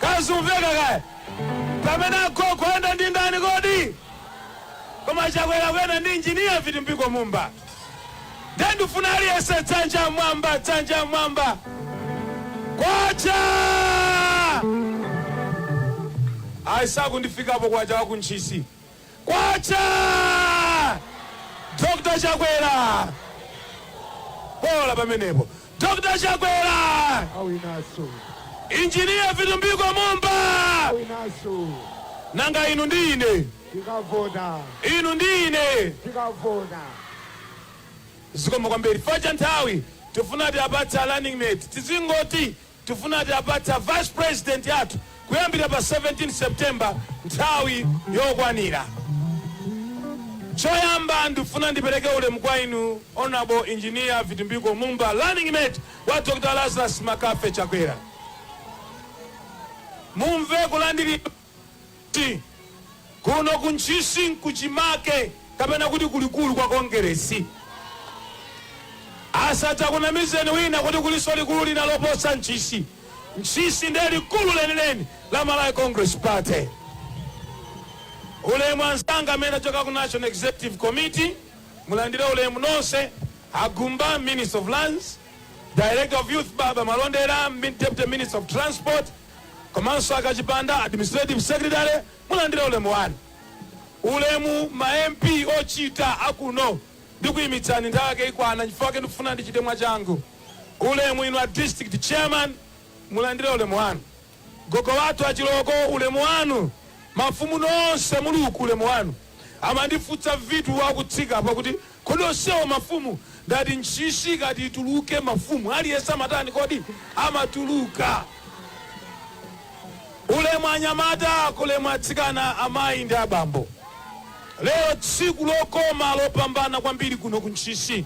Kaya zikumveka kaya? Pamene agogo akuyenda ndi ndani kodi? Koma Chakwera akuyenda ndi injiniya Vitumbiko Mumba. Ndiye ndifuna aliyense dzanja mwamba, dzanja mwamba. Kwacha! Ayi sakundifikapo kwacha wa ku Ntchisi. Kwacha! Dr. Chakwera! Bola pamenepo. Dr. Chakwera! Awinaso. Injiniya Vitumbiko Mumba! Awinaso. Nanga inu ndi ine. Tikavota. Inu ndi ine. Tikavota. Zikomo kwambiri. Fa cha nthawi tifuna tiwapatse running mate. Tizingoti Tifuna tiwapatse a vice president athu kuyambira pa 17 September nthawi yokwanira. Choyamba ndifuna ndipereke ulemu kwa inu Honourable Engineer Vitumbiko Mumba running mate wa Dr Lazarus McCarthy Chakwera. Mumve kulandiridwa. Kuno ku Ntchisi nkuchimake kapena kuti kulikulu kwa Kongeresi. Asadzakunamizeni wina kuti kulinso likulu lina loposa Ntchisi. Ntchisi ndiye likulu lenileni la Malawi Congress Party. Ulemu anzanga amene achoka ku National Executive Committee, mulandire ulemu nonse, a Gumba, Minister of Lands, Director of Youth Baba Malondera, Deputy Minister of Transport, komanso a Kachipanda, Administrative Secretary, mulandire ulemu wanu. Ulemu ma MP ochita akuno ndikuimitsani nthawi yake ikwana chifukwa chake ndikufuna ndichite mwachangu. Ulemu inu a District Chairman, mulandire ulemu wanu. Gogo wathu a Chilooko, ulemu wanu. Mafumu nonse muli uku, ulemu wanu. Amandifunsa Vitu akutsika apa kuti kodi onsewa mafumu ndati Ntchisi ikati ituluke mafumu aliyense amatani kodi amatuluka ulemu anyamata ulemu atsikana amayi ndi abambo lero tsiku lokoma lopambana kwambiri kuno ku Ntchisi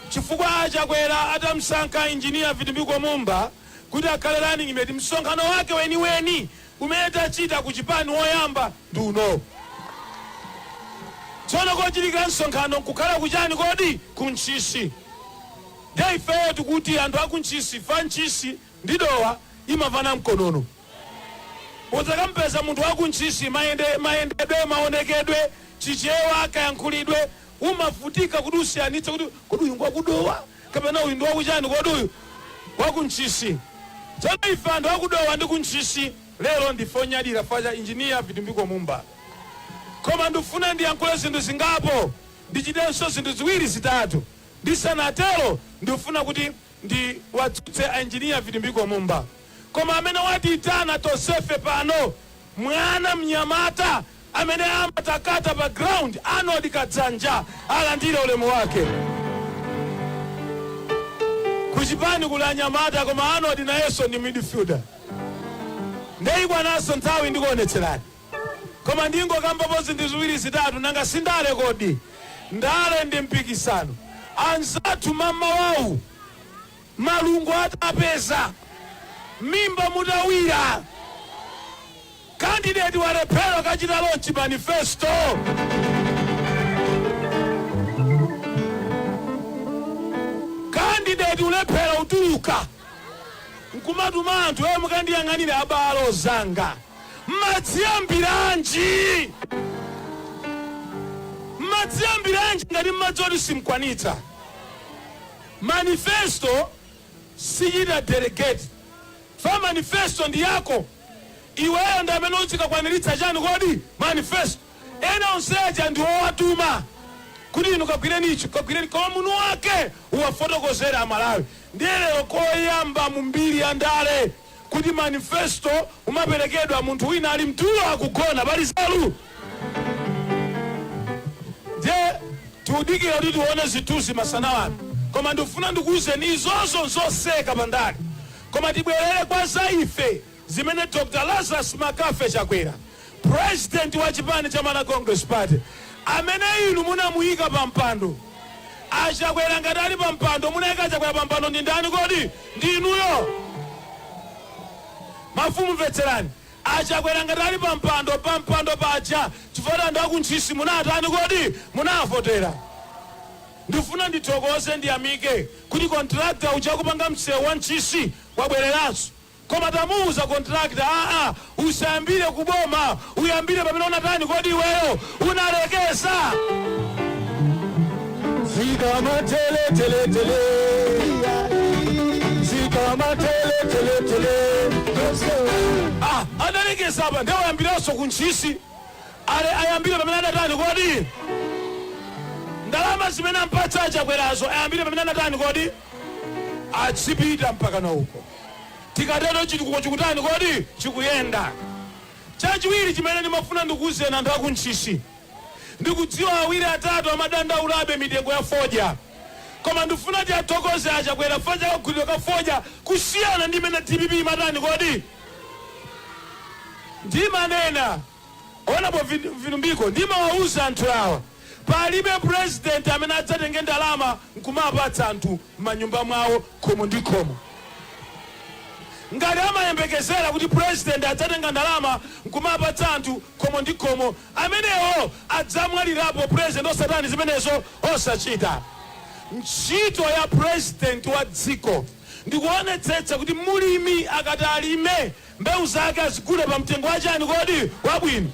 chifukwa a Chakwera atamsankha engineer vitumbiko mumba kuti akhale running mate msonkhano wake weniweni umene tachita ku chipani woyamba ndi uno. Tsono kochitikira msonkhano nkukhala ku chani kodi? Ku Ntchisi. Ndiye ifeyo tikuti anthu a ku Ntchisi, fa Ntchisi ndi Dowa imamvana mkonono. Mudzakamupeza munthu wa ku Ntchisi mayendedwe, maonekedwe, Chichewa, kayankhulidwe Umavutika kuti usiyanitse kuti kodi uyu ngwa ku Dowa kapena uyu ndi wa ku chani, kodi uyu ngwa ku Ntchisi. Tsono ife anthu a ku Dowa ndi ku Ntchisi lero ndife onyadira chifukwa cha Engineer Vitumbiko Mumba. Koma ndikufuna ndiyankhule zinthu zingapo, ndichitenso zinthu ziwiri zitatu. Ndisanatero ndikufuna kuti ndiwadzutse a Engineer Vitumbiko Mumba. Koma amene watiitana tonsefe pano, mwana, mnyamata, Amene amatakata pa ground Arnold Kadzanja alandire ulemu wake. Ku chipani kuli anyamata koma Arnold nayenso ndi midfielder nde ikwananso nthawi ndikuonetserani. Koma ndingokambapo zinthu ziwiri zitatu nanga si ndale kodi? Ndale ndi mpikisano. Anzathu mmawawu. Malungo atapeza mimba mutawira, candidate walephera kukachita launch manifesto. Candidate kulephera kutuluka nkumatuma anthu e mukandiyang'anire abale zanga mmadziyambiranji? Mmadziyambiranji ngati mmadziwa kuti simkwanitsa? Manifesto sichita delegate chifukwa manifesto ndi yako iweyo ndi amene udzikakwaniritsa chani kodi? Manifesto. Ena onse aja ndi owatuma kuti inu kagwireni ichi kagwireni koma mwini wake uwafotokozere a Malawi ndiye lero koyamba mu mbiri ya ndale. kuti manifesto imaperekedwa munthu wina ali mtulo akugona pali nzeru? Ndiye tikudikira kuti tione zithunzi masana ano koma ndikufuna ndikuuzeni izozo nzoseka pa ndale koma tibwerere kwa za ife zimene Dr. Lazarus McCarthy Chakwera President wa chipani cha Malawi Congress Party amene inu munamuyika pa mpando a Chakwera ngati ali pa mpando munayika a Chakwera pa mpando ndi ndani kodi? Ndi inuyo. Mafumu mvetserani a Chakwera ngati ali pa mpando pa mpando paja chifukwa anthu a ku Ntchisi munatani kodi? Munawavotera. Ndifuna ndithokoze ndiyamike kuti contractor uja akupanga msewu wa Ntchisi wabwereranso. Koma tamuuza contractor aa usayambire ku boma uyambire pamene unatani kodi iweyo unalekeza. Zikama tele tele tele Zikama tele tele tele Ah, analekeza apa nde wayambiranso ku Ntchisi ayambire pamene anatani kodi ndalama zimene ampatsa a Chakwerazo ayambire pamene anatani kodi adzipita mpaka na uko Tikatero chitukuko chikutani kodi? Chikuyenda. Chachiwiri chimene ndimafuna ndikuuzeni anthu a ku Ntchisi, ndikudziwa awiri atatu amadandaulabe mitengo ya fodya koma ndifuna tiathokoze a Chakwera fodya kagulidwe ka fodya kusiyana ndi mmene dpp imatani kodi? Ndimanena, Honourable Vitumbiko, ndimawauza anthu awa. Palibe president amene adzatenge ndalama nkumapatsa anthu mmanyumba mwawo khomo ndi khomo. Ngati amayembekezera kuti president adzatenga ndalama nkumapatsa anthu khomo ndi khomo, amenewo adzamwalirapo president osatani zimenezo? Osachita. Ntchito ya president wa dziko ndikuonetsetsa kuti mlimi akati alime, Mbewu zake azigule pa mtengo wa chani kodi? Wabwino.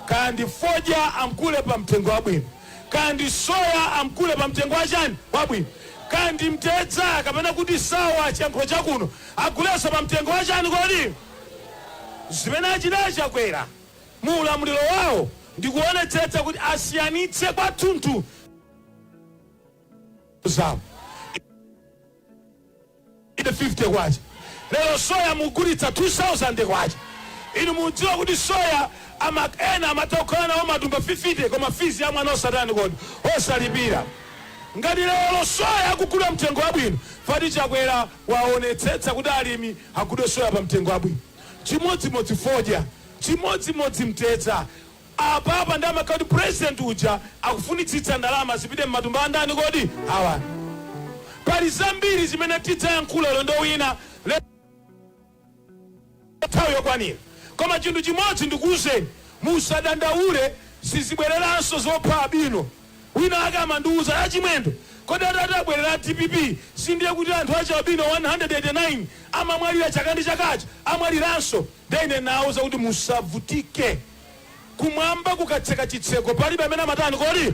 Kaya ndi fodya amgule pa mtengo wabwino. Kaya ndi soya amgule pa mtengo wa chani? Wabwino. Kaya ndi mtedza kapena kuti sawa chiyankhulo cha kuno agulenso pa mtengo wa chani kodi? Zimene achita a Chakwera mu ulamuliro wawo ndi kuonetsetsa kuti asiyanitse kwathunthu mbewu zawo. K150. Lero soya mugulitsa K2000. Inu mudziwa kuti soya amak ena amatha kukhala nawo matumba 50 koma fizi ya mwana osatani kodi? Osalipira. Ngati lero soya akugula mtengo wabwino pati Chakwera waonetsetsa kuti alimi agulidwe soya pa mtengo wabwino. Chimodzimodzi fodya. Chimodzimodzi mtedza. Apapa nde amakhala kuti president uja akufunitsitsa ndalama zipite mmatumba andani kodi? Awa. Pali zambiri zimene tidzayankhule ulendo wina nthawi yokwanira koma chinthu chimodzi ndikuuzeni musadandaule sizibwereranso zopha albino. Wina wake amandiuza a Chimwendo kodi atati abwerera a dpp sindiye kuti anthu achi albino 189 amamwalira chaka ndi chaka aja amwaliranso? Nde ine nawauza kuti musavutike kumwamba kukatseka chitseko palibe amene amatani kodi?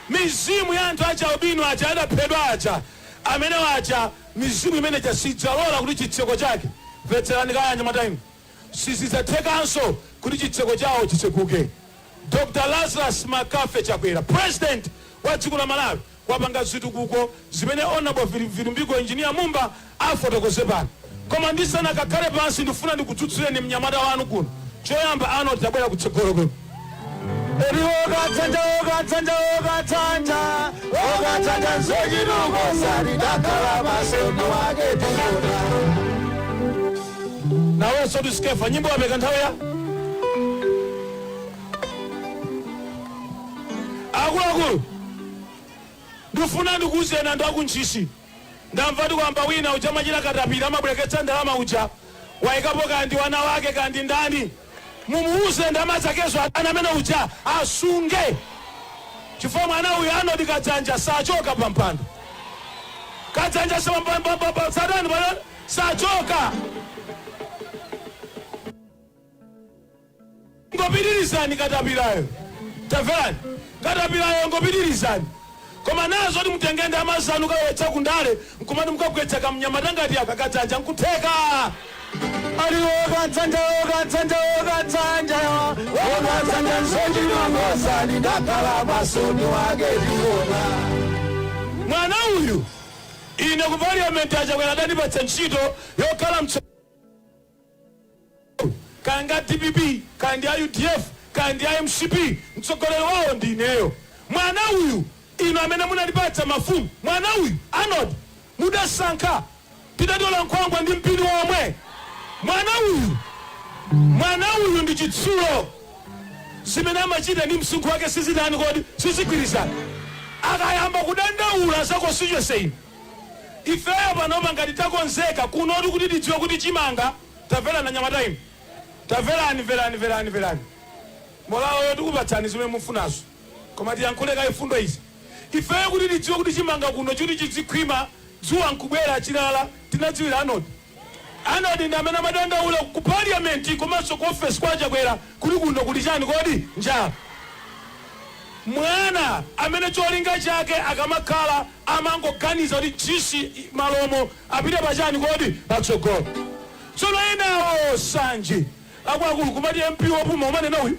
Mizimu ya anthu achi albino aja adaphedwa aja amenewo aja mizimu imene ija sidzalola kuti chitseko chake mvetserani kaye anyamata inu sizidzathekanso kuti chitseko chawo chitseguke Dr Lazarus McCarthy Chakwera president wa dziko la Malawi wapanga zitukuko zimene Honourable Vitumbiko Engineer Mumba afotokoze pano. Koma ndisanakakhale pansi ndifuna ndikudzutsireni mnyamata wanu kuno. Choyamba Arnold tabwera kutsogolo kuno. Eti wokathanda wokathanda wokathanda wokathanda nzochituko sali dakhala maso ndi wake tiona. Nawenso ndi Skefa nyimbo wapeka nthawi ya Akuluakulu ndifuna ndikuuzeni anthu aku Ntchisi ndamva kuti kwamba wina uja amachita katapira amabwereketsa ndalama uja waikapo kaya ndi wana wake kaya ndi ndani mumuuze ndalama zakezo ana amene uja asunge chifukwa mwana uyu Arnold Kadzanja sachoka pampando Kadzanja satani pano sachoka Ingopitirizani katapilayo. Tamverani, katapilayo ingopitirizani. Koma nawo zoti mutenge ndalama zanu kukalowetsa ku ndale n'kumati mukagwetsa kamnyamata ngati aka Kadzanja n'kutheka? Ali woka dzanja, woka dzanja, woka dzanja, woka dzanja nsochi mangoza ndidakhala masoni wake ndiona. Mwana uyu ine ku parliament a Chakwera adandipatsa ntchito yokhala mtso kaya ndi a dpp kaya ndi a udf kaya ndi a mcp mtsogoleri wawo ndi ineyo. Mwana uyu inu amene munatipatsa mafumu mwana uyu Arnold mudasankha tidatola nkhwangwa ndi mpini womwe. Mwana uyu mwana uyu ndi chitsulo zimene amachita ndi msinkhu wake sizitani kodi sizigwirizana akayamba kudandaula za constituency ino Ifeyo panopa ngati takonzeka kunotu kuti tidziwe kuti chimanga tamverani anyamata inu tamverani mverani mverani mverani molaloyo tikupatsani zimene mufunazo koma tiyankhule kaye mfundo izi ifeyo kuti tidziwe kuti chimanga kuno kuti chidzikhwima dzuwa nkubwera chilala tinadziwira Arnold Arnold ndi amene amadandaula ku parliament komanso ku office kwa a Chakwera kuti kuno kuli chani kodi? Njala. Mwana amene cholinga chake akamakhala amangoganiza kuti Ntchisi Malomo apite pa chani kodi? Patsogolo. Tsono enawo nsanje akuluakulu kumati MP wopuma umanena uyu.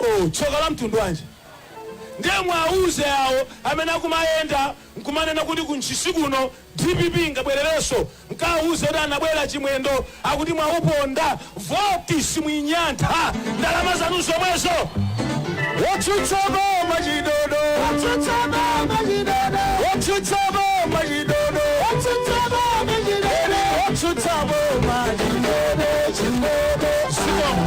Oh, tsoka la mtundu wanji! Ndiye mwauze awo amene akumayenda nkumanena kuti ku Ntchisi kuno dpp ingabwererenso, mkawauze kuti anabwera Chimwendo akuti mwauponda voti simuinyantha, ndalama zanu zomwezo. Otsutsa boma chidodo, otsutsa boma chidodo, otsutsa boma chidodo. chindebe otsutsa boma chindebe otsutsa boma chindebe chindebe zikomo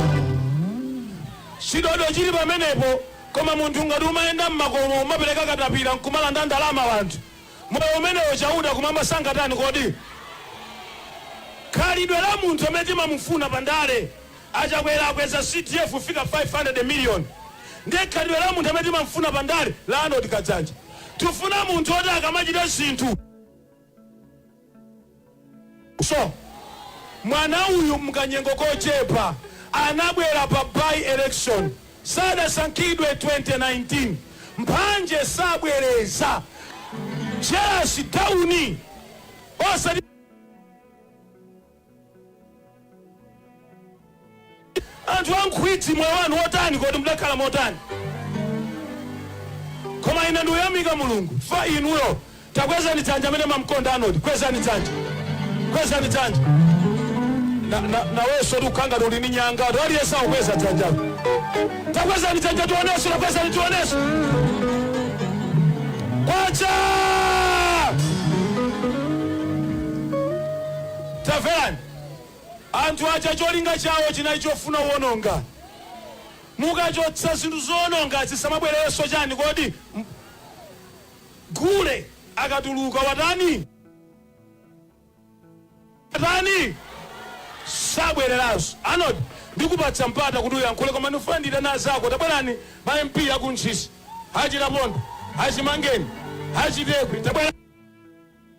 chidodo chili pamenepo koma munthu ngati umayenda mmakomo umapereka katapira nkumalanda ndalama wanthu moyo umenewo Chauta kumwamba sangatani kodi khalidwe la munthu amene timamufuna pa ndale A Chakwera akweza CDF kufika 500 million. Ndiye khalidwe la munthu amene timamfuna pa ndale la Arnold Kadzanja. Tifuna munthu woti akamachita zinthu. So, mwana uyu mkanyengo kochepa anabwera pa by election sadasankhidwe 2019. Mphanje sabwereza. Jealous down. Osati anthu a nkhwidzi moyo wanu wotani kodi mudakhala motani koma ine ndiyamika mulungu fa inuyo takwezani dzanja amene mumamkonda Arnold kwezani dzanja kwezani dzanja Na- na- nawenso ndikukhanga uli ndi nyanga anthu aliyense akukweza dzanjalo takwezani dzanja tionenso takwezani tionenso kwacha Tamverani! Anthu aja cholinga chawo chinali chofuna uononga. Mukachotsa zinthu zoononga zisamabwererenso chani kodi? Gule akatuluka watani? Watani? Sabwereranso. Arnold, ndikupatsa mpata kuti uyankhule koma ndifuna ndiitane azako. Tabwerani ma MP aku Ntchisi, a Chilapondwa, a Chimangeni, a Chitekwe. Tabwerani.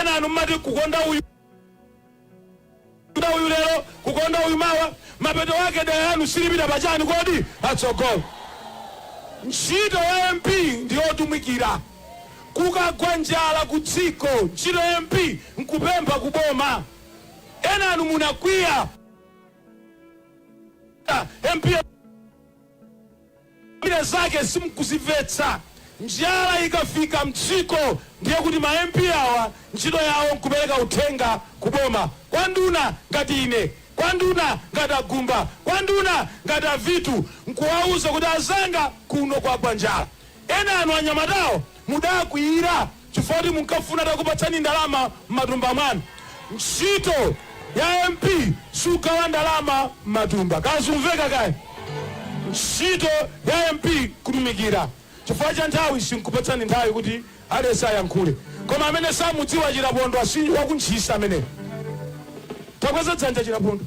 enanu mmati kukonda uyu kukonda uyu lero kukonda uyu mawa mapeto ake dera lanu silipita pachani kodi patsogolo ntchito ya mp ndiyotumikira kukagwa njala ku dziko ntchito ya mp nkupempha ku boma enanu munakwiya mp re zake simukuzimvetsa. Njala ikafika mdziko ndiye kuti ma MP awa ntchito yawo nkupereka uthenga ku boma, kwa nduna ngati ine, kwa nduna ngati a Gumba, kwa nduna ngati a Vitu nkuwauza kuti azanga kuno kwagwa njala. Enanu anyamatawo mudakwiyira. chifukwa kuti munkafuna atakupatsani ndalama m'matumba mwanu. Ntchito ya MP sugawa ndalama m'matumba. Kaya zumveka kaya? Ntchito ya MP kutumikira. Chifukwa cha nthawi sinkupatsani nthawi kuti aliyense ayankhule. Koma amene samudziwa Chilapondwa si waku Ntchisi ameneyo. Takweza dzanja Chilapondwa.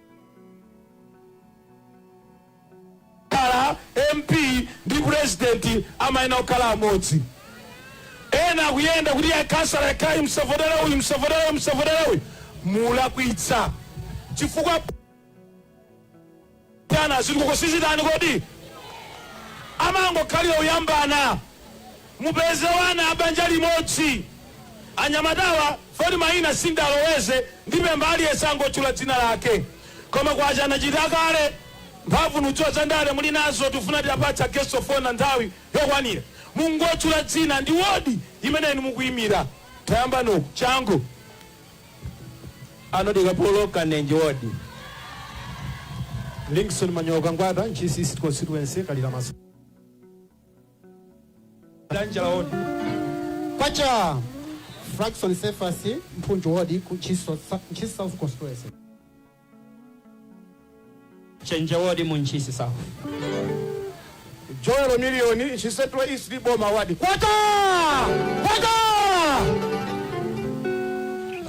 khala MP ndi president amayenera kukhala amodzi. Ena akuyenda kuti ya khansala ayi msavotera uyu msavotera uyu msavotera uyu mulakwitsa chifukwa chani zitukuko sizitani kodi amangokhalira kuyambana Mupeze wana abanja limodzi. Anyamatawa poti maina sindaloweze ndipempha aliyese angotchula dzina lake. Koma kwacha anachita kale. Mphamvu ndudziwa zandale mulinazo tufuna tiapatsa guest of honor nthawi yokwanira. Mungotchula dzina ndi ward yimene inu mukuimira. Tayambani uku. Changu. Arnold Kapolo Kanenje ward. Linkson Manyoka Ngwata Ntchisi East Constituency Kalira Mas. Danjala wodi kwacha Fraxon Sefasi mphunju wodi ku Ntchisi Ntchisi south constituency chenje wodi mu ntchisi south Joel Miliyoni Ntchisi Central East boma wadi kwacha kwacha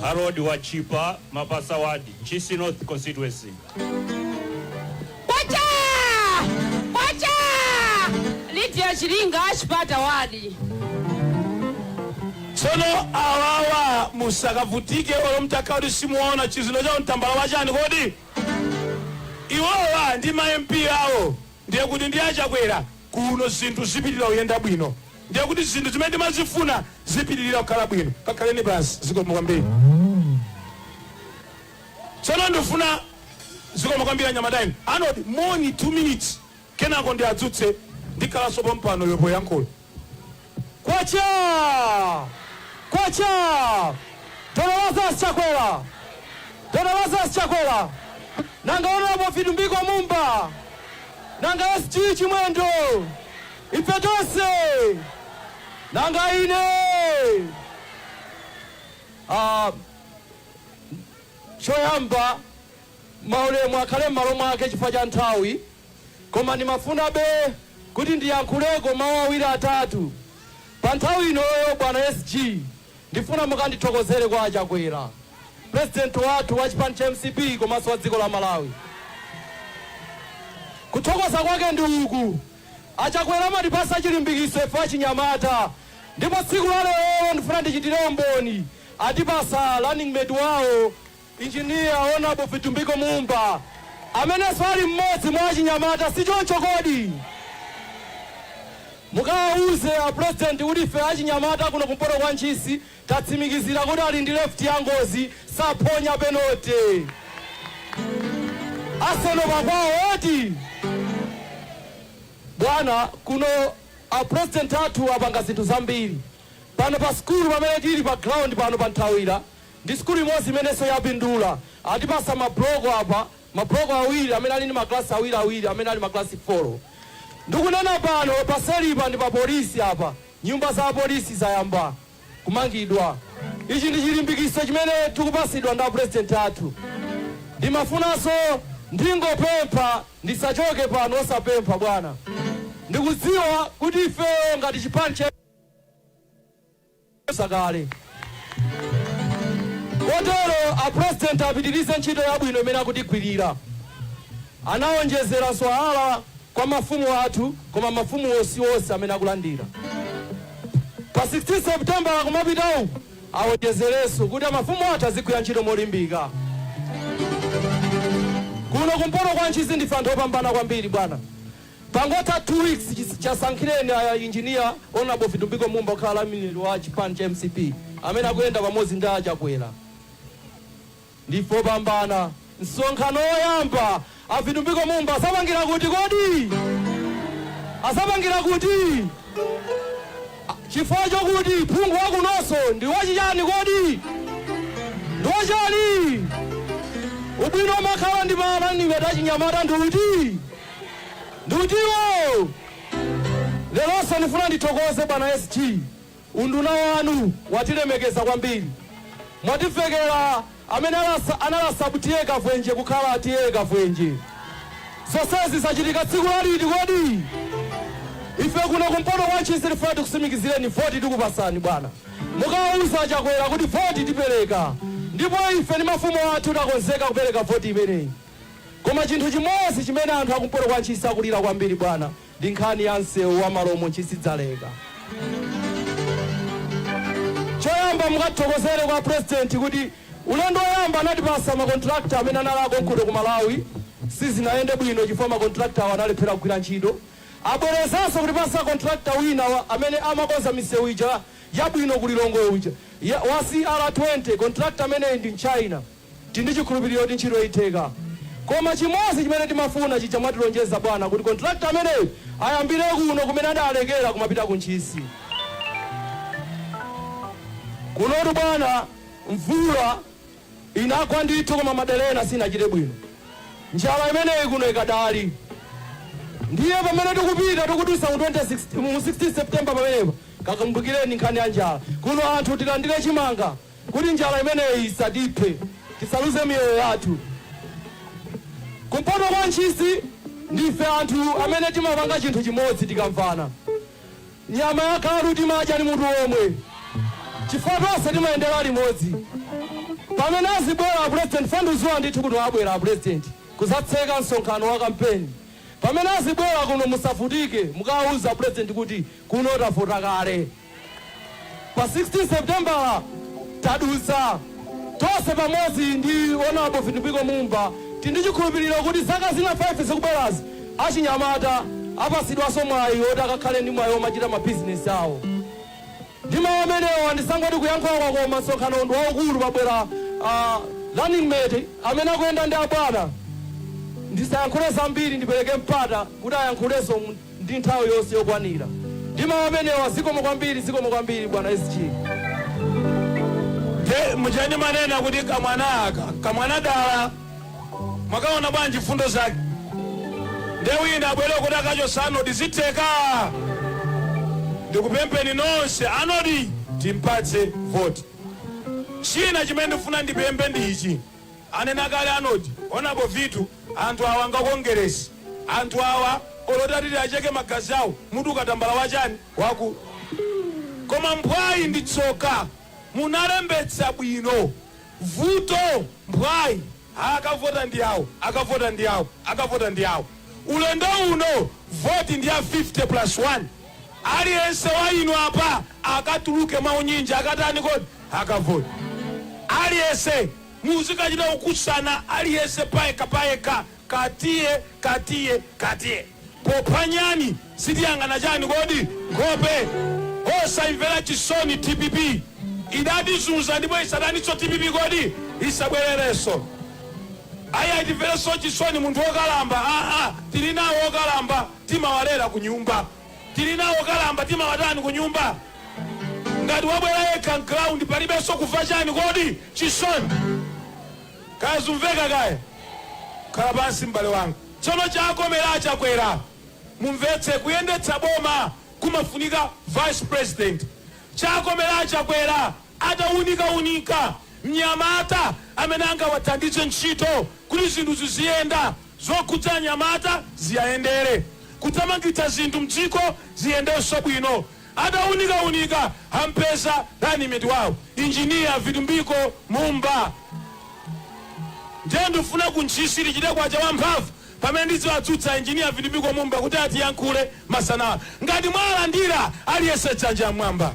Harold Wachipa, Mapasa Ward, Ntchisi North Constituency. Kwacha! Kwacha! Lydia Chilinga, Chipata Wadi. tsono awawa musakavutike olo mtakhala kuti simuona chizino chawo n'tambala wachani kodi iwowa ndi ma mp awo ndiye kuti ndi achakwera kuno zinthu zipitirira kuyenda bwino ndiye kuti zinthu zimene ndimazifuna zipitirira kukhala bwino kakhaleni pansi zikomo kwambiri Tsono ndifuna Zikomo kwambiri anyamata inu. Arnold, moni, two minutes kenako ndiadzutse ndikhalanso pompano iwe poyankhula. Kwacha! Kwacha! Dr. Lazarus Chakwera! Dr. Lazarus Chakwera! Nanga Honorable Vitumbiko Mumba! Nanga SG Chimwendo! Ife tonse! Nanga ine! Ah, Choyamba, maulemu akhale m'malo mwake chifukwa cha nthawi, koma ndimafunabe kuti ndiyankhuleko mawu awiri atatu pa nthawi inoyo. Bwana SG, ndifuna mukandithokozere kwa a Chakwera, President wathu wa chipani cha mcp komanso wa dziko la Malawi. Kuthokoza kwake ndi uku, a Chakwera amatipatsa chilimbikiso ife achinyamata ndipo tsiku la lerolo ndifuna ndichitire umboni. atipatsa running mate wawo Engineer Honorable Vitumbiko Mumba amenenso ali mmodzi mwa achinyamata sichoncho kodi? Mukawauze a President kuti ife achinyamata kuno kumpoto kwa Ntchisi tatsimikizira kuti ali ndi left ya ngozi saphonya penalty. Arsenal pakwawo eti? Bwana kuno a President athu apanga zinthu zambiri. Pano pa sukulu pamene tili pa ground pano pa Nthawira ndi sukulu imodzi imenenso yapindula. Atipatsa ma block apa, ma block awiri amene ali ndi ma class awiri awiri amene ali ma class folo. Ndikunena pano paselipa ndi pa police apa, nyumba za polisi zayamba kumangidwa. Ichi ndi chilimbikitso chimene tikupatsidwa ndi a president athu. Ndimafunanso ndingopempha ndisachoke pano osapempha bwana. Ndikudziwa kuti ifeyo ngati chipani cha. zakale kotero a president apitirize ntchito yabwino imene akutigwirira anaonjezera salary kwa mafumu athu koma mafumuwo si onse amene akulandira pa 16 september akumapitawu aonjezerenso kuti mafumu athu azigwira ntchito molimbika kuno kumpoto kwa ntchisi ndife anthu opambana kwambiri bwana Pangotha 2 weeks chasankhireni a Engineer Hon Vitumbiko Mumba kukhala running mate wa chipani cha mcp amene akuyenda pamodzi ndi a Chakwera. Ndife opambana. Msonkhano woyamba a Vitumbiko Mumba azapangira kuti kodi? Adzapangira kuti? Chifukwa chokuti phungu wakunonso ndi wachichani kodi? Ndi wachani? Ubwino omakhala ndi ma running mate achinyamata ndi uti? Ndi utiwo leronso ndifuna ndithokoze bwana SG unduna wanu watilemekeza kwambiri mwativekera amene anali a sub TA Kavwenje kukhala TA Kavwenje. Zonsezi zachitika tsiku la liti kodi? Ife kuno kumpoto kwa Ntchisi tifuna tikusimikizireni voti tikupasani bwana, mukawauza a Chakwera kuti voti tipereka, ndipo ife ndi mafumu athu takonzeka kupereka voti imeneyi. Koma chinthu chimodzi chimene anthu akumpoto kwa Ntchisi akulira kwambiri bwana ndi nkhani ya msewu wa Malomo Ntchisi Dzaleka. Choyamba mukathokozere kwa President kuti ulendo woyamba anatipasa ma contractor amene anali akonkuno ku Malawi, sizinayende bwino chifukwa ma contractor awo analephera kugwira ntchito. Abwerezanso kutipasa contractor wina amene amakonza misewu ija yabwino ku Lilongwe uja wa CR20, contractor ameneyi ndi mchina. Tili ndi chikhulupiliro kuti ntchitoyi itheka. Koma chimodzi chimene timafuna chija mwatilonjeza bwana kuti contractor ameneyi ayambire kuno kumene adalekera kumapita ku Ntchisi. Kunotu bwana mvula inagwa ndithu koma madera ena sinachite bwino. Njala imeneyi kuno ikadali. Ndiye pamene tikupita tikudutsa mu mu 16 September pamenepa kakumbukireni nkhani ya njala. Kuno anthu tilandire chimanga. Kuti njala imeneyi isatiphe, tisaluze miyoyo yathu. Kumpoto kwa Ntchisi ndife anthu amene timapanga chinthu chimodzi tikamvana. Nyama ya galu timadya ndi mutu womwe chifukwa tonse timayendera limodzi. Pamene azibwera a President fandidziwa ndithu kuti abwera a President kuzatseka msonkhano wa kampeni. Pamene azibwera kuno musavutike mukawauze a President kuti kuno tavota kale. pa 16 Seputembala tadutsa tonse pamodzi ndi Hon. Vitumbiko Mumba, tindi chikhulupiriro kuti zaka zina 5 zikubwerazi, achinyamata apatsidwanso mwayi woti akakhale ndi mwayi womachita mabizinesi awo. Ndi mawu amenewa, ndisangoti kuyankhula kwakoma, msonkhanowu ndi waukulu, pabwera a running mate amene akuyenda ndi abwana. Ndisayankhule zambiri, ndipereke mpata kuti ayankhulenso. ndi nthawi yonse yokwanira ndi mawu amenewa zikomo kwambiri zikomo kwambiri bwana sg. Nde muja ndimanena kuti kamwana aka kamwana dala mwakaona bwanji mfundo zake nde wina abwere kuti akachotsa Anodi zitheka ndikupempheni nonse Anodi timpatse voti china chimene ndifuna ndipemphe ndi ichi Anena kale Anodi, honourable Vitu, anthu awa nga Kongeresi anthu awa olo utati tiacheke magazi awo mutuluka tambala wachani? Wakuda. Koma mphwayi ndi tsoka munalembetsa bwino vuto mphwayi ha akavota ndi awo akavota ndi awo akavota ndi awo ulendo uno voti ndi ya 50 plus 1. Aliyense wa inu apa akatuluke mwaunyinji akatani kodi? Akavote. Aliyense muzikachita kukusana aliyense payekha payekha katiye katiye katiye. Popha nyani sitiyang'ana chani kodi? Nkhope. Osaimvera chisoni dpp. Idatizunza ndipo isataninso dpp kodi? Isabwererenso. Ayi ati timverenso chisoni munthu wokalamba aa tilinawo okalamba. timawalera kunyumba. Tili nawo okalamba timawatani kunyumba? Ngati wabwera yekha m'ground palibenso kumva chani kodi? Chisoni. Kaya zumveka kaya? Khala pansi m'bale wanga. Tsono chakomera a Chakwera. Mumvetse, kuyendetsa boma kumafunika vice president. Chakomera a Chakwera ataunikaunika mnyamata amene angawathandize ntchito kuti zinthu ziziyenda. Zokhudza anyamata ziwayendere. Kuthamangitsa zinthu mdziko ziyendenso bwino. Ataunikaunika ampeza Running-mate wawo, Engineer Vitumbiko Mumba. Ndiye ndifuna ku Ntchisi tichite kwacha wa mphamvu pamene ndiziwadzutsa Engineer Vitumbiko Mumba kuti atiyankhule masana ano. Ngati mwawalandira aliyense dzanja mmwamba.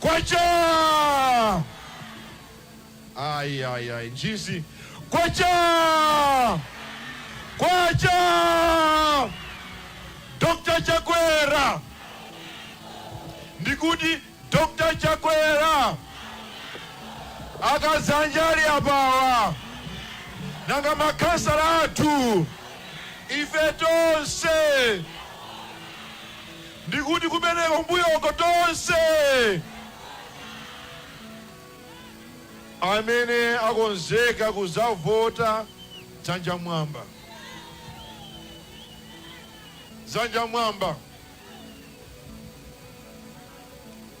kwacha ayi ayi ayi Ntchisi kwacha kwacha dr chakwera ndikuti dr chakwera a Kadzanja ali apawa nanga makhansala athu ife tonse Ndikuti kumeneko mmbuyoko? Tonse amene akonzeka kudzavota, dzanja mmwamba. Dzanja mmwamba.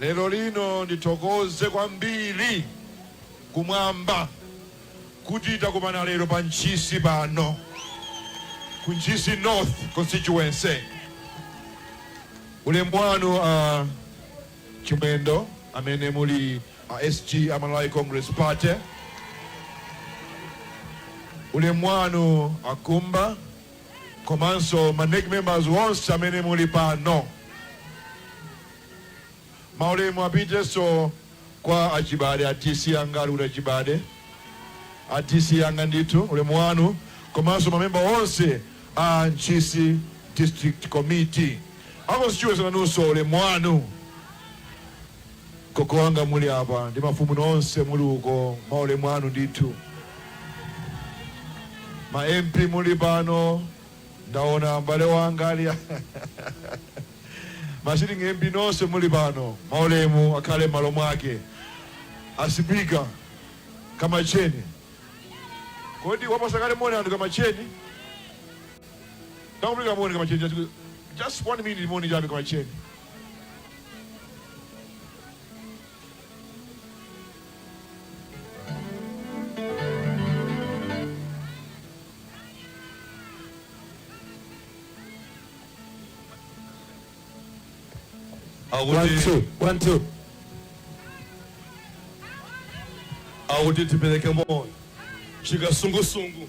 Lerolino ndithokoze kwambiri Kumwamba kuti takumana lero pa Ntchisi pano, ku Ntchisi North Constituency. Ulemu wanu a Chimwendo amene muli a SG a Malawi Congress Party. Ulemu wanu a Kumba komanso ma nec members onse amene muli pano. Maulemu apitenso kwa a Chibade, a DC anga, ali kuti a Chibade? A DC anga ndithu, ulemu wanu, komanso ma member onse a Ntchisi District Committee. A constituency nanunso ulemu wanu. Gogo wanga muli apa ndi mafumu nonse muli uko maulemu anu ndithu. Ma MP muli pano ndaona m'bale wanga ali ma sitting MP nonse muli pano maulemu akhale m'malo mwake. A Sipika Kamacheni kodi wapasa kale moni anthu Kamacheni? Tamupeleka moni Kamacheni just one minute moni chabe Kamacheni. akuti tipereke moni chikasungusungu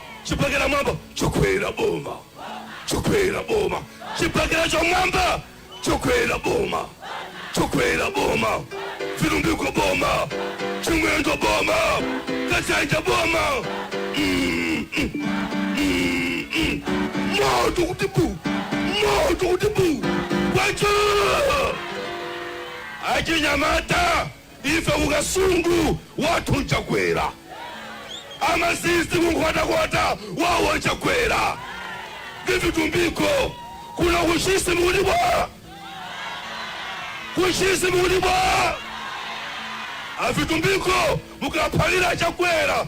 chibakera mmwamba Chakwera boma Chakwera boma chibakera chammwamba Chakwera boma Chakwera boma Vitumbiko boma chimwendo boma Kadzanja boma Mm, mm, mm, mm. moto kuti bu moto kuti bu kwacha achinyamata Ife ku Kasungu wathu nchakwera. Amasisi ku Nkhotakota wawo nchakwera. Avitumbiko kuno ku Ntchisi mukuti bwaa? Ku Ntchisi mukuti bwaa? Avitumbiko mukaphalira Chakwera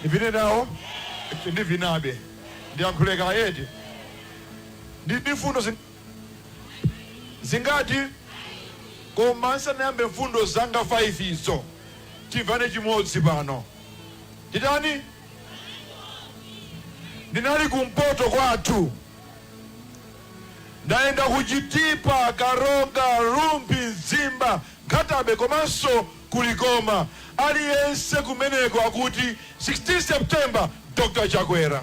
Ndivine nawo? Eti ndivinebe? Ndiyankhule kaye eti? Ndili ndi mfundo zin. zingati? Koma ndisanayambe mfundo zanga 5 zo, timvane chimodzi pano. Titani? Ndinali kumpoto kwathu. Ndayenda ku Chitipa, Karonga, Rumphi, Mzimba, Nkhatabe komanso. ku Likoma aliyense kumeneko akuti 16 September Dr Chakwera.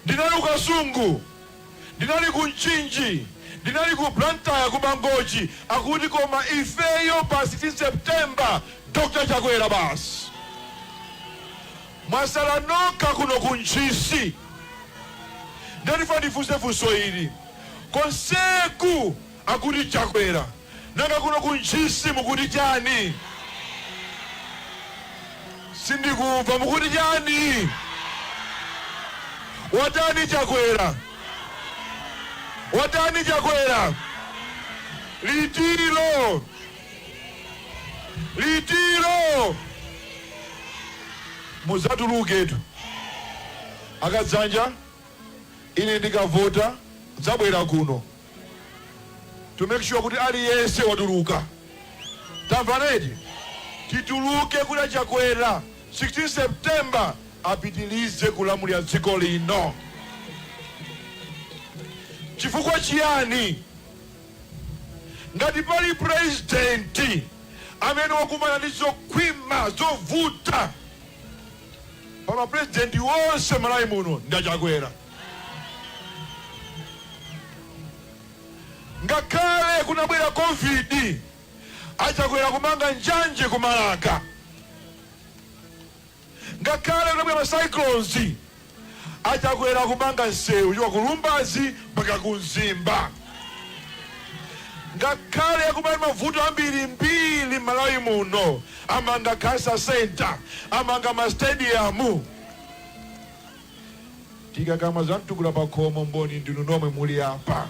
Ndinali ku Kasungu, ndinali ku Mchinji, ndinali ku Blantyre ku Mangochi akuti koma ifeyo pa 16 September Dr Chakwera basi. Mwasala nokha kuno ku Ntchisi. Nde ndifuna ndifunse funso ili konseku Akuti Chakwera. Nanga kuno ku Ntchisi mukuti chani? Sindikumva. Mukuti chani? Watani Chakwera? Watani Chakwera? Litilo. Litilo. Muzatuluketu. Akadzanja ine ndikavota nzabwera kuno. to make sure kuti aliyense watuluka tamvana eti tituluke kuti a Chakwera 16 september apitirize kulamulira dziko lino chifukwa chiyani ngati pali purezidenti amene wakumana ndi zokhwima zovuta pa ma president onse m'Malawi muno ndi a Chakwera. Ngakhale kunabwera Covid a Chakwera kumanga njanje ku Marka. Ngakhale kunabwera ma cyclones A Chakwera kumanga nsewu kuchoka ku Lumbadzi mpaka ku Mzimba. Ngakhale kunali mavuto ambirimbiri m'Malawi muno, amanga Cancer Centre, amanga ma stadium. Tikakamba za Mtukula Pakhomo mboni ndinu nomwe muli apa.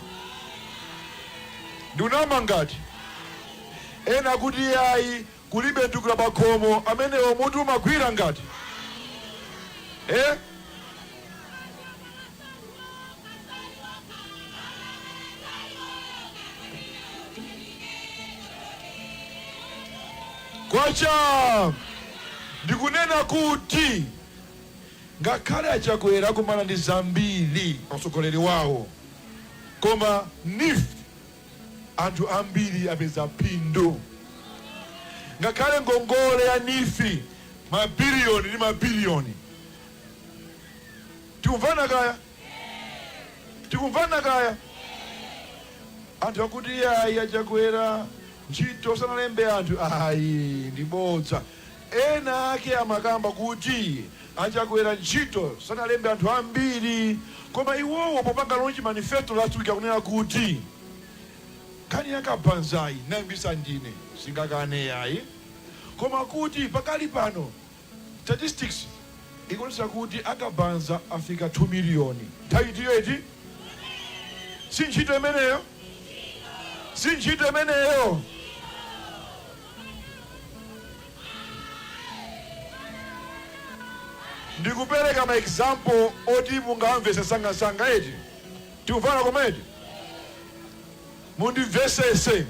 Ndikunama ngati? Ena akuti ayi, Kulibe chitukuko pakhomo amenewo mutu umagwira ngat ee. Kwachaa! Ndikunena kuti ngakhale a Chakwera akumana ndi zambiri pa utsogoleri wawo koma NEEF. anthu ambiri apeza phindu. Ngakhale ngongole ya NEEF mabiliyoni ndi mabiliyoni. Tikumvana kaya? Tikumvana kaya? Anthu akuti ayi a Chakwera ntchito sanalembe anthu ayi ndi bodza. Ena ake amakamba kuti a Chakwera ntchito sanalembe anthu ambiri koma iwowo popanga launch manifesto last week akunena kuti nkhani ya kabanzayi anayambisa ndine singakane yayi koma kuti pakali pano statistics ikuonesa kuti akabanza afika 2 million nthawi itiyo eti sintchito imeneyo sintchito imeneyo. Ndikupereka ma example oti mungawamvese nsangansanga eti? Tikumvana koma eti? Mundimvesese,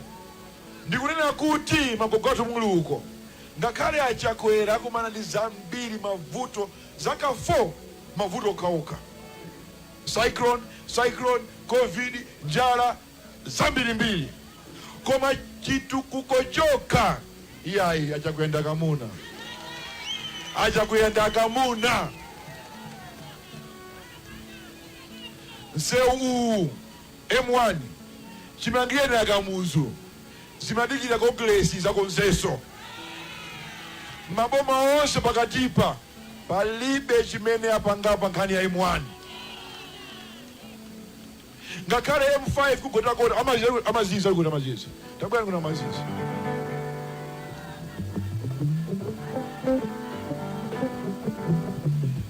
ndikunena kuti magogo athu muli uko ngakhale a Chakwera akumana ndi zambiri mavuto zaka 4 mavuto okhaokha cyclone, cyclone, covid, njala, zambirimbiri koma chitukuko chokha iyayi achakuyenda kamuna achakuyenda kamuna msewu uwu M1 chimangireni a Kamuzu zimadikira Kongeresi idzakonzenso maboma onse pakatipa palibe chimene apangapa nkhani ya M1 Ngakhale M5 ku Nkhotakota amaziyeza kuti amaziyeza kuti amaziyeza. Tabwera kuno amaziyeza.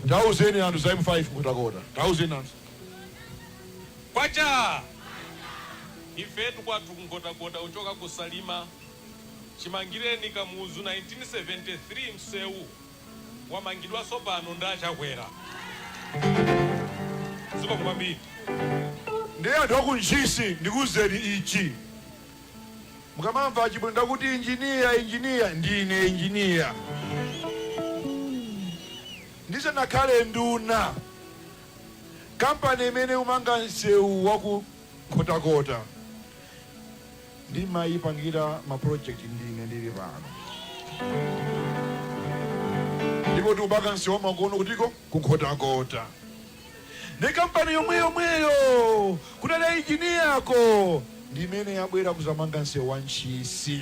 Tauzeni anthu za M5 ku Nkhotakota. Tauzeni anthu. Kwacha! Ifetu kwathu ku Nkhotakota kuchoka ku Salima chimangireni Kamuzu 1973 msewu wamangidwanso pano ndi a Chakwera zikomo kwambiri. Ndiye anthu aku Ntchisi ndikuuzeni ichi mukamamva a Chimwendo akuti engineer engineer ndine engineer ndisanakhale nduna company imene ikumanga nsewu waku Nkhotakota Ndimayipangira ma project ndine ndili pano. Ndipo tikupanga nsewu wamakono kutiko ku Nkhotakota. Ndi kampani yomwe yomweyo kunali engineer-yo ndimene yabwera kuzamanga nsewu wa Ntchisi.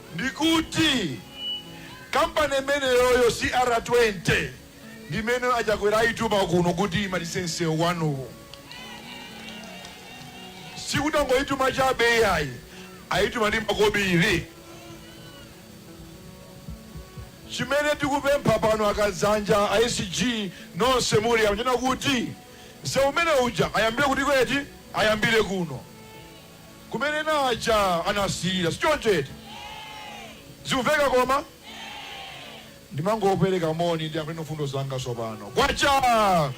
ndikuti company imeneyoyo CR20 ndimene achakwera ayituma kuno kuti imalize msewu wanuwo sikuti angoyituma chabe iyayi ayituma ndi makobiri chimene tikupempha pano akazanja a SG nonse muli mma chair-mu kuti msewu umene uja ayambire kuti kweti ayambire kuno kumene ena aja anasiyira, sichoncho eti? Zikumveka koma? Ndimangopereka moni, ndiyambeno mfundo zanga tsopano. Kwacha!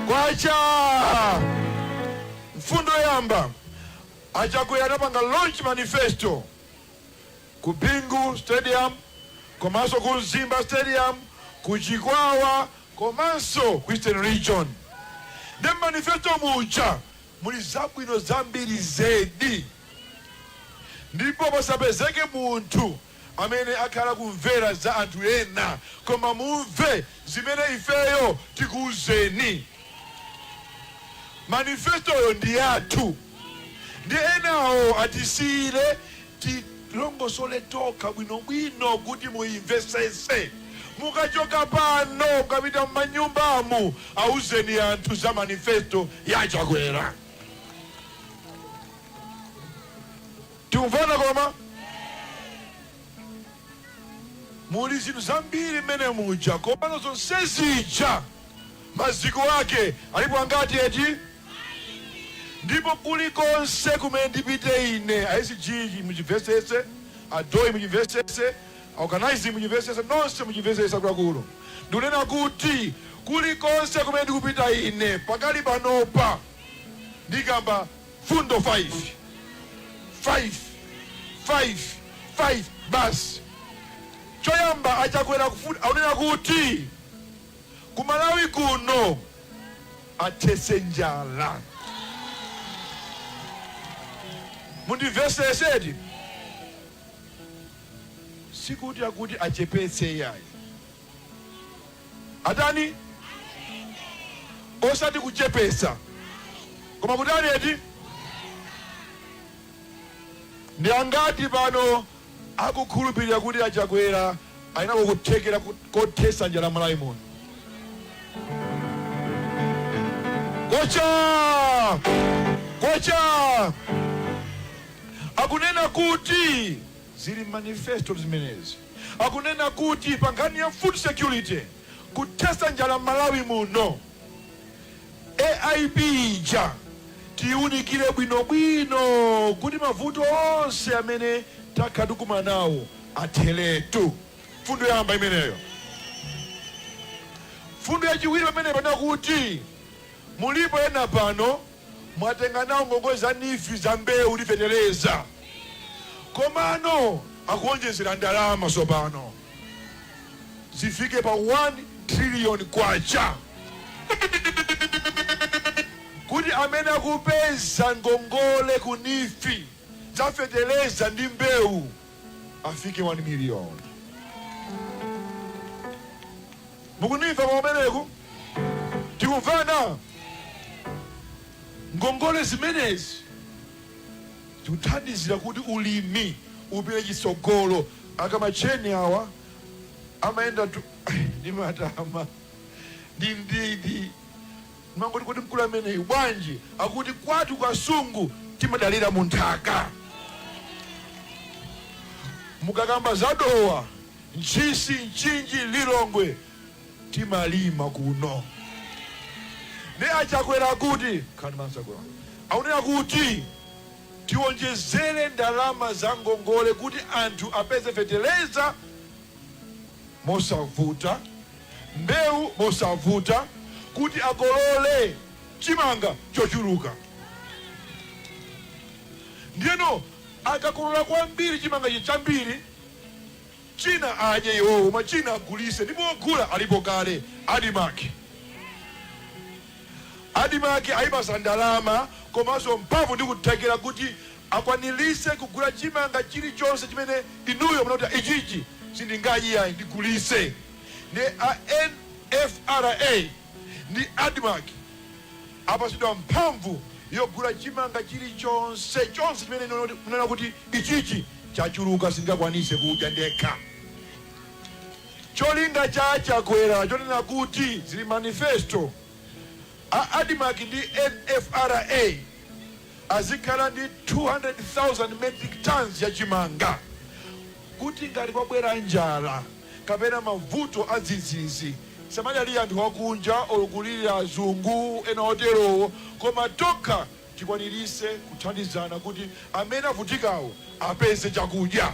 Kwacha! Mfundo yoyamba, a Chakwera anapanga launch manifesto ku Bingu stadium komanso ku Mzimba stadium, ku Chikwawa komanso ku Eastern region. Nde mmanifesto muja Muli zabwino zambiri zedi, ndipo pasapezeke munthu amene akhala kumvera za anthu ena koma mumve zimene ifeyo tikuuzeni. Manifesto-yo ndi yathu, ndiye enawo atisiire tilongosole tokha bwinobwino kuti muimvesese. Mukachoka pano mukapita mmanyumbamu auzeni anthu za manifesto ya Chakwera. Tikumvana koma? Muli zinthu zambiri mmene muja komano zonsezija. Maziko ake alipo angati eti? Ndipo kulikonse kumene ndipite ine, a SG muchimvesese, a Doi muchimvesese, a Organizing muchimvesese, nonse muchimvesese akuluakulu. Ndikunena kuti kulikonse kumene ndikupita ine pakali panopa ndikamba mfundo 5, 5, 5, 5 basi. Choyamba a Chakwera akufuna, akunena kuti. ku Malawi kuno athetse njala. Mundimvesese eti? Sikuti akuti achepetse iyayi. Atani? Osati kuchepetsa. Koma kutani eti? Ndi angati pano akukhulupirira kuti a Chakwera ali nako kuthekera kothetsa njala Malawi muno? Kwachaa! Kwachaa! Akunena kuti zili m'manifesto zimenezi. Akunena kuti pa nkhani ya food security, kuthetsa njala Malawi muno. AIP ija tiyiunikire bwinobwino kuti mavuto onse amene takhala tikukumana nawo atheretu. Mfundo yoyamba imeneyo. Mfundo yachiwiri pamenepa nakuti mulipo ena pano mwatenga nawo ngongole za neef za mbewu ndi feteleza komano akuonjezera ndalama tsopano. zifike pa K1 trillion kuti amene akupeza ngongole ku neef za feteleza ndi mbewu afike 1 million. Mukundimva kumeneku? Tikumvana? Ngongole zimenezi zikuthandizira kuti ulimi upite chitsogolo Akamatcheni awa amayenda ndi matama ndi mdidi ndimangoti kodi mkulu ameneyu bwanji akuti kwathu Kasungu timadalira munthaka mukakamba za dowa ntchisi mchinji lilongwe timalima kuno nde achakwera akuti khalani pansi akunena kuti Tionjezere ndalama za ngongole kuti anthu apeze feteleza mosavuta, mbewu mosavuta kuti akolole chimanga chochuluka. Ndiyeno akakolola kwambiri chimangachi chambiri. China adye iwowo koma china agulise ndipo ogula alipo kale admarc. Admarc ayipasa ndalama komaso mphamvu ndi kuthekera kuti akwanilise kugula chimanga chilichonse chimene inuyo munati ichichi sindingadye yayi ndigulise ndiye a NFRA ndi admarc apatsidwa mphamvu yogula chimanga chilichonse chonse chimene munena kuti ichichi chachuluka sindingakwanise kudya ndekha cholinga cha chakwera chonena kuti zili m'manifesto a admarc ndi nfra azikhala ndi 200,000 metric tons ya chimanga kuti ngati kwabwera njala kapena mavuto adzidzidzi. Tisamadalire anthu akunja or kulilira azungu ena oterowo koma tokha tikwanirise kuthandizana kuti amene avutikawo apeze chakudya.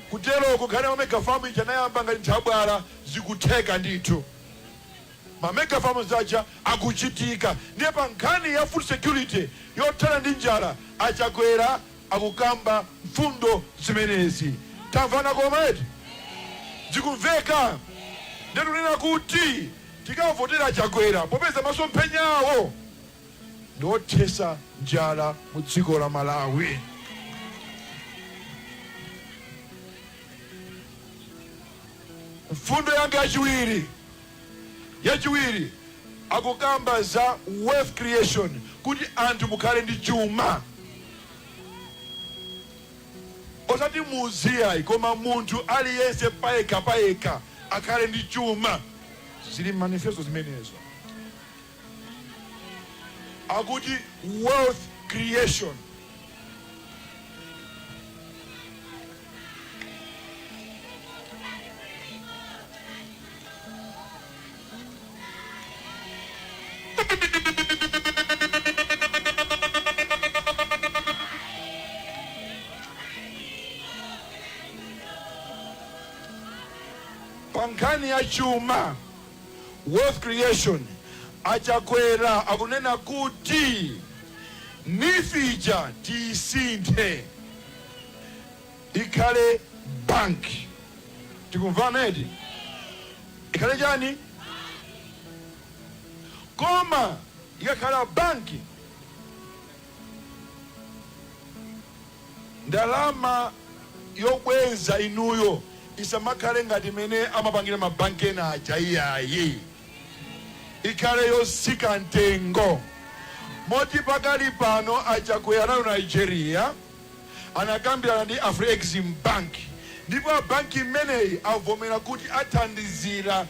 Kuteroko nkhani ya ma mega farm ija anayamba ngati nthabwala zikutheka ndithu. Ma mega farms aja akuchitika ndiye pa nkhani ya food security yothana ndi njala a Chakwera akukamba mfundo zimenezi. Tamvana koma eti? Zikumveka? Ndiye tikunena kuti tikavotera a Chakwera popeza masomphenya awo ndi othesa njala mu dziko la Malawi. Mfundo yanga yachiwiri. Yachiwiri, akukamba za wealth creation kuti anthu mukhale ndi chuma. Osati mudzi iyayi koma munthu aliyense payekha payekha akhale ndi chuma. Zili m'manifesto zimenezo. akuti wealth creation pa nkhani ya chuma Wealth creation a Chakwera akunena kuti neef ija tiisinthe ikhale bank tikumvana eti ikhale chani koma ikakhala bank Ndalama yobweza inuyo isamakhale ngati mmene amapangira ma bank ena aja iyayi. Ikhale yotsika mtengo. Moti pakali pano a Chakwera anali ku Nigeria anakambirana ndi Afrexim Bank ndipo a bank imeneyi avomera kuti athandizira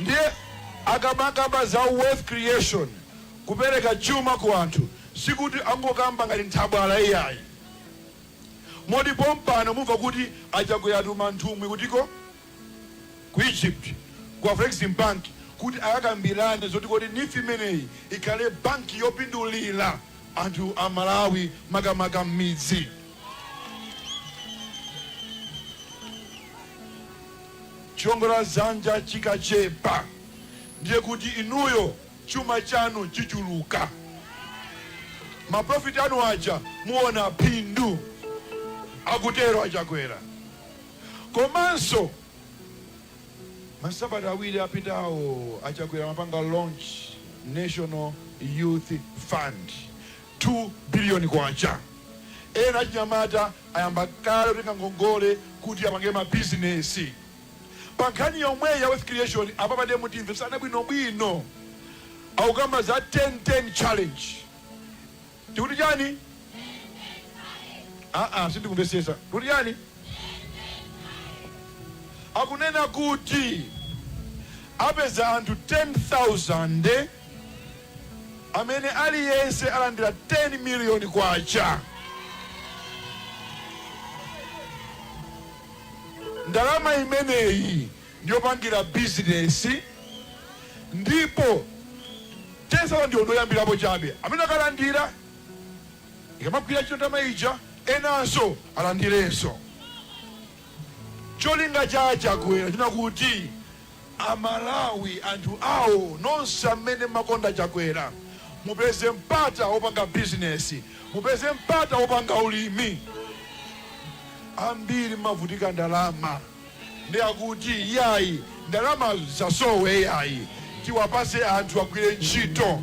Ndiye akamakamba za wealth creation, kupereka chuma ku anthu, sikuti angokamba ngati nthabwala iyayi. Moti pompano mumva kuti a Chakwera atuma nthumwi kutiko? Ku Egypt, ku Afreximbank kuti akakambirane zoti kuti neef imeneyi ikhale banki yopindulira anthu a Malawi makamaka m'midzi. Chiwongola dzanja chikachepa, ndiye kuti inuyo chuma chanu chichuluka. Ma profit anu aja muona phindu, akutero a Chakwera. Komanso masabata awiri apitawo a Chakwera amapanga launch National Youth Fund. K2 biliyoni. Ena achinyamata ayamba kale kutenga ngongole kuti apange mabizinesi. Pa nkhani yomweyi ya wealth creation, apapa ndiye mutimvetsane bwinobwino. Akukamba za 10 10 challenge. Tikuti chani? Aa sindikumvetsetsa. Tikuti chani? Akunena kuti apeza anthu 10,000. amene aliyense alandira K10 miliyoni. Ndalama imeneyi ndiyopangira bizinesi ndipo 10 sauzande ndi oyambirapo chabe. Amene akalandira ikamagwira ntchito ndalama ija enanso alandirenso. Cholinga cha a Chakwera ndi chakuti. Amalawi anthu awo nonse amene mmakonda chakwera mupeze mpata wopanga business mupeze mpata wopanga ulimi ambiri mmavutika ndalama nde akuti iyayi ndalamazo zisasowe iyayi tiwapatse anthu agwire ntchito.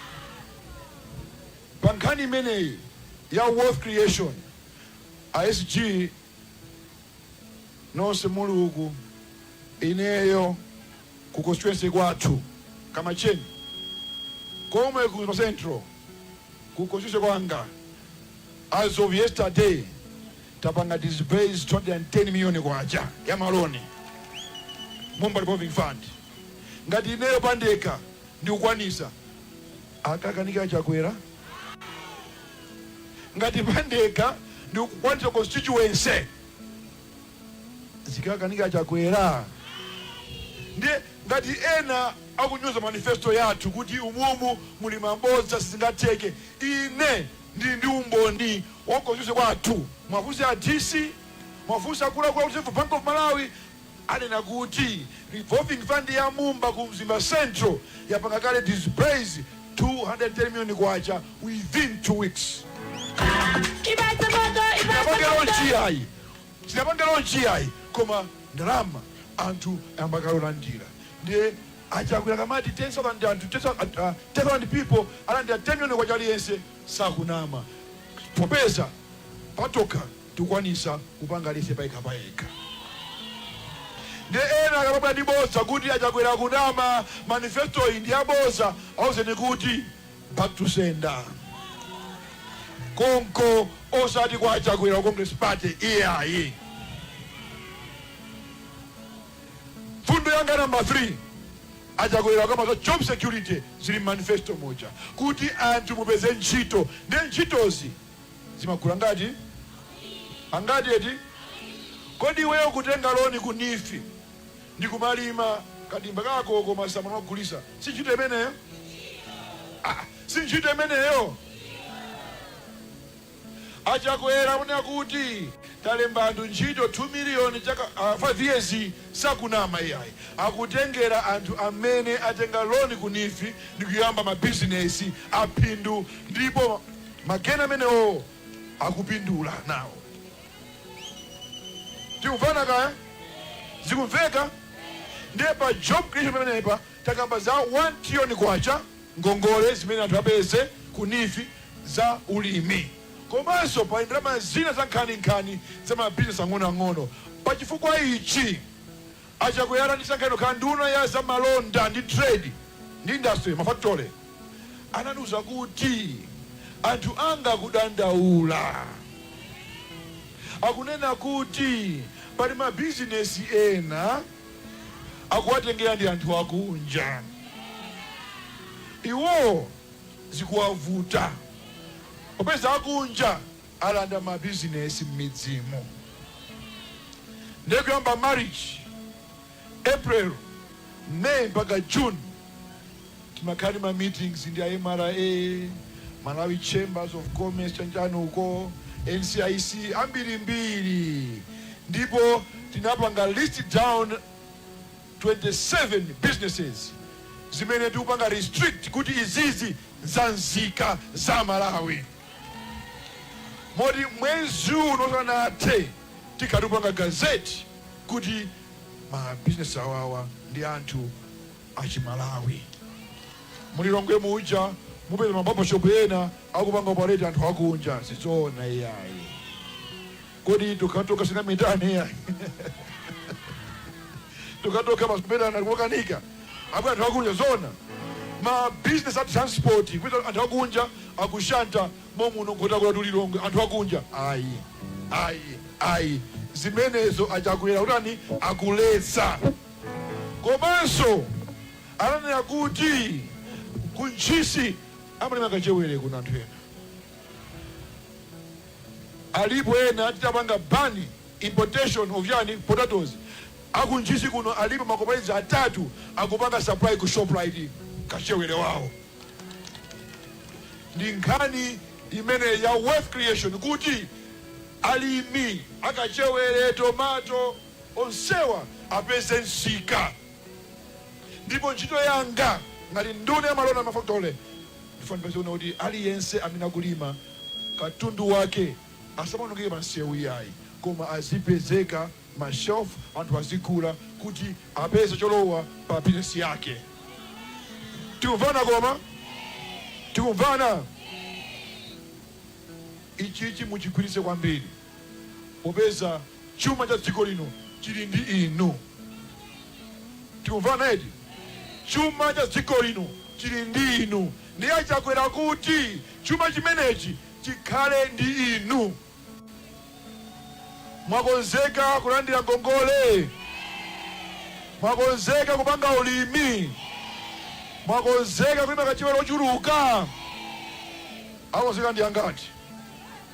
Pa nkhani imeneyi ya wealth creation, a SG nonse muli uku, ineyo ku constituency kwathu Kamacheni komwe ku central ku constituency kwanga as of yesterday tapanga disburse K210 million ya ma loan Mumba Revolving Fund. ngati ineyo pandekha ndikukwanisa akakanika a Chakwera ngati pandekha ndikukwanisa constituency zikakanika a Chakwera ndiye ngati ena akunyoza manifesto yathu kuti umumu muli mabodza sizingatheke ine ndili ndi umboni wa constituency kwathu muwafunse a dc muwafunse akuluakulu a reserve bank of malawi anena kuti revolving fund ya Mumba ku Mzimba Central yapanga kale disburse K210 million within two weeks. Sinapange launch iyayi koma ndalama anthu ayamba kale kulandira ndiye a Chakwera akamati 10,000 people alandira 10 million kwacha aliyense sakunama popeza patokha tukwanisa kupanga aliyese payekha payekha nde ena akamabwera ndi bodza kuti achakwera akunama manifestoyi ndi yabodza auzeni kuti back to sender konko osati kwa achakwera wa congress party iyayi mfundo yanga namba 3 achakwera akamaza job security zili mmanifesto moja kuti anthu mupeze ntchito ndi ntchitozi zimakula ngati? Angati eti? Kodi iweyo kutenga loni ku neef ndikumalima kadimba kako ka masamba n'kumagulisa si ntchito imeneyo? Si ntchito imeneyo? A Chakwera akunena kuti talemba anthu ntchito 2 million chaka 5 years sakunama iyayi akutengera anthu amene atenga loni ku neef ndikuyamba ma business aphindu ndipo mageni amenewo akupindula nawo. Tikuvana kaya? Zikumveka? Ndiye pa job creation pamenepa takamba za 1 trillion kwacha ngongole zimene anthu apeze ku NEEF za ulimi komanso pali ndalama zina za nkhaninkhani za mabizinesi ang'onoang'ono. Pa chifukwa ichi A Chakwera atandisankha kukhala nduna ya za malonda ndi trade ndi industry, mafakitole, anandiuza kuti anthu anga akudandaula. Akunena kuti pali mabizinesi ena akuwatengera ndi anthu akunja. Iwo zikuwavuta popeza akunja. alanda ma business mmidzimu ndiye kuyamba Marichi April, May mpaka June tinakhala ndi ma meetings ndi a mra, Malawi Chambers of Commerce chanchani uko, NCIC ambirimbiri ndipo tinapanga list down 27 businesses zimene tikupanga restrict kuti izizi za nzika za Malawi. moti mwezi uno usanathe tikhala tikupanga gazette kuti ma business awawa ndi anthu achimalawi mulilongwe muja mupeza ma barber shop ena akupanga operate anthu akunja sizoona iyayi Kodi tokhatokha sitingametane iyayi tokhatokha basi kumetana kukanika abwere anthu akunja zoona ma business a transport kuti anthu akunja akushanta momuno nkhotakota tu lilongwe anthu akunja ayi ayi ayi zimenezo achakwera kutani akuletsa komanso anandiuza kuti ku ntchisi amalima kachewere kuna anthu ena Alipo ena titapanga ban importation of ujeni potatoes aku ntchisi kuno alipo ma cooperatives atatu akupanga supply ku shoprite kachewere wawo ndi nkhani imeneyi ya wealth creation kuti alimi akachewere tomato onsewa apeze nsika ndipo ntchito yanga ngati nduna ya malonda ndi mafakitole Ndifuna kunena kuti aliyense amene akulima katundu wake asamaonongeke pa msewu iyayi koma azipezeka mma shelf anthu azigula kuti apeze cholowa pa business yake. Tikumvana koma? Tikumvana? Ichichi muchigwiritse kwambiri. popeza chuma cha dziko lino chili ndi inu. Tikumvana eti? Chuma cha dziko lino chili ndi inu. Ndiye a Chakwera akuti chuma chimenechi chikhale ndi inu. Mwakonzeka kulandira ngongole? Mwakonzeka kupanga ulimi? Mwakonzeka kulima kachewere ochuluka? Akonzeka ndi angati?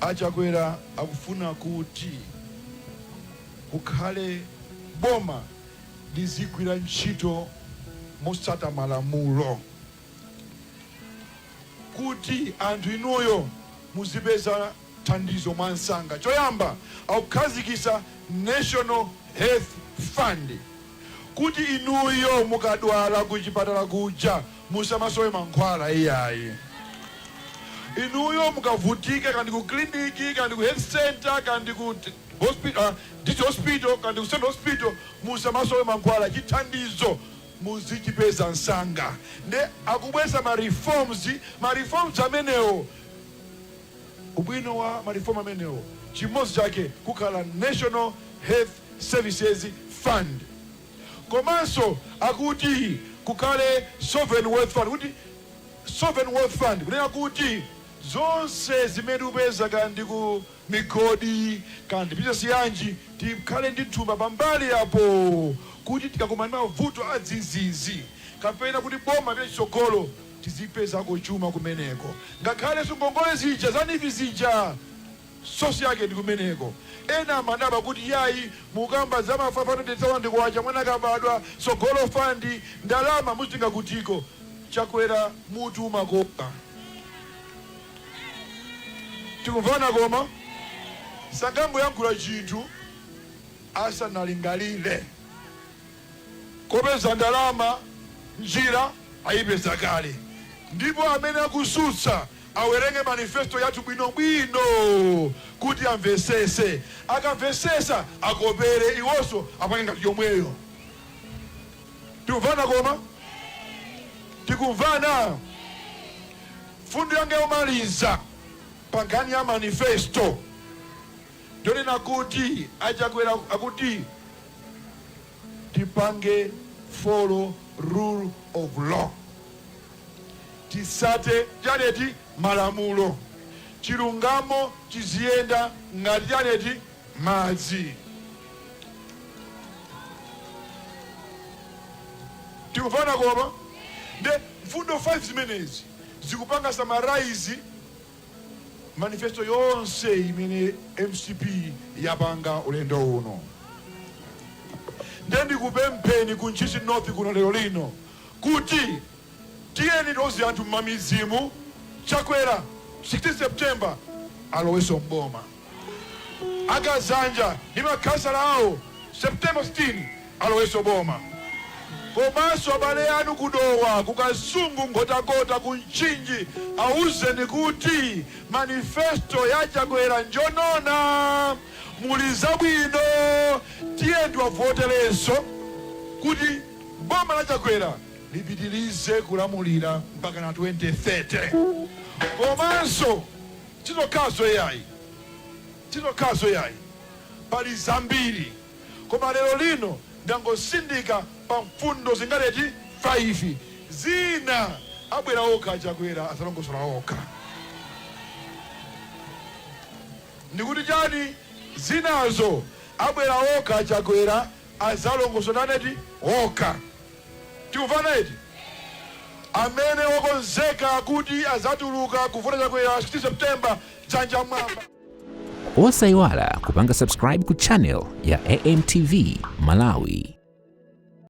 A Chakwera akufuna kuti kukhale boma lizigwira ntchito motsata malamulo, kuti anthu inuyo muzipeza thandizo mwansanga. Choyamba akukhazikisa National Health Fund kuti inuyo mukadwala kuchipatala kuja Musamasowe mankhwala iyayi. Inuyo mukavutika kaya ndi ku clinic kaya ndi ku health centre kaya ndi ku district hospital kaya ndi ku central hospital musamasowe mankhwala. Chithandizo muzichipeza nsanga. Nde akubweretsa ma reforms, ma reforms amenewo ubwino wa ma reform amenewo chimodzi chake kukhala National Health Services Fund. Komanso akuti kukhale sovereign wealth fund kuti sovereign wealth fund kunena kuti zonse zimene tikupeza kaya ndi ku migodi kaya ndi bizinesi yanji tikhale ndi thumba pambali apo kuti tikakumana ndi mavuto adzizizi kapena kuti boma lipite chitsogolo tizipezako chuma kumeneko ngakhalenso ngongole zija za neef zija source yake ndikumeneko. Ena amadabwa kuti yayi mukukamba za ma K500,000 mwana akabadwa, Tsogolo Fund, ndalama muzitenga kutiko? Chakwera mutu umakoma. Tikumvana koma? Sangangoyankhula chinthu asanalingalire. Kopeza ndalama njira ayipeza kale ndipo amene akusutsa Awerenge manifesto yathu bwinobwino kuti amvesese. Akamvesesa akopere iwoso apange ngati yomweyo. Tikumvana koma? Tikumvana? Mfundo yanga yomaliza pa nkhani ya manifesto ndonena kuti a Chakwera akuti tipange follow rule of law. Titsate chani eti malamulo chilungamo chiziyenda ngati chani eti madzi. Tikumvana koma? Nde mfundo 5 zimenezi zikupanga summarize manifesto yonse imene MCP yapanga ulendo uno. Nde ndikupempheni ku Ntchisi North kuno lero lino kuti tiyeni tiuze anthu mmamidzimu Chakwera 16 September aloweso mboma. Akazanja ndi makhansala awo September 16 aloweso boma. Komanso abale anu ku Dowa, ku Kasungu, Nkhotakota, ku Mchinji awuzeni kuti manifesto ya Chakwera njowona muli zabwino tiyeni tiwavoteleso kuti. Boma la Chakwera lipitilize kulamulira mpakana 2030 komanso sizokhazo yayi sizokhazo yayi pali zambiri koma lero lino ndangosindika pa mfundo zingati eti 5 zina abwera okha a Chakwera azalongosola okha ndikuti chani zinazo abwera okha a Chakwera adzalongosola chani eti? okha. Tikumvana eti? Amene wakonzeka kuti adzatuluka kuvota Chakwera 16 September dzanja mmwamba. Osaiwala kupanga subscribe ku channel ya AMTV Malawi.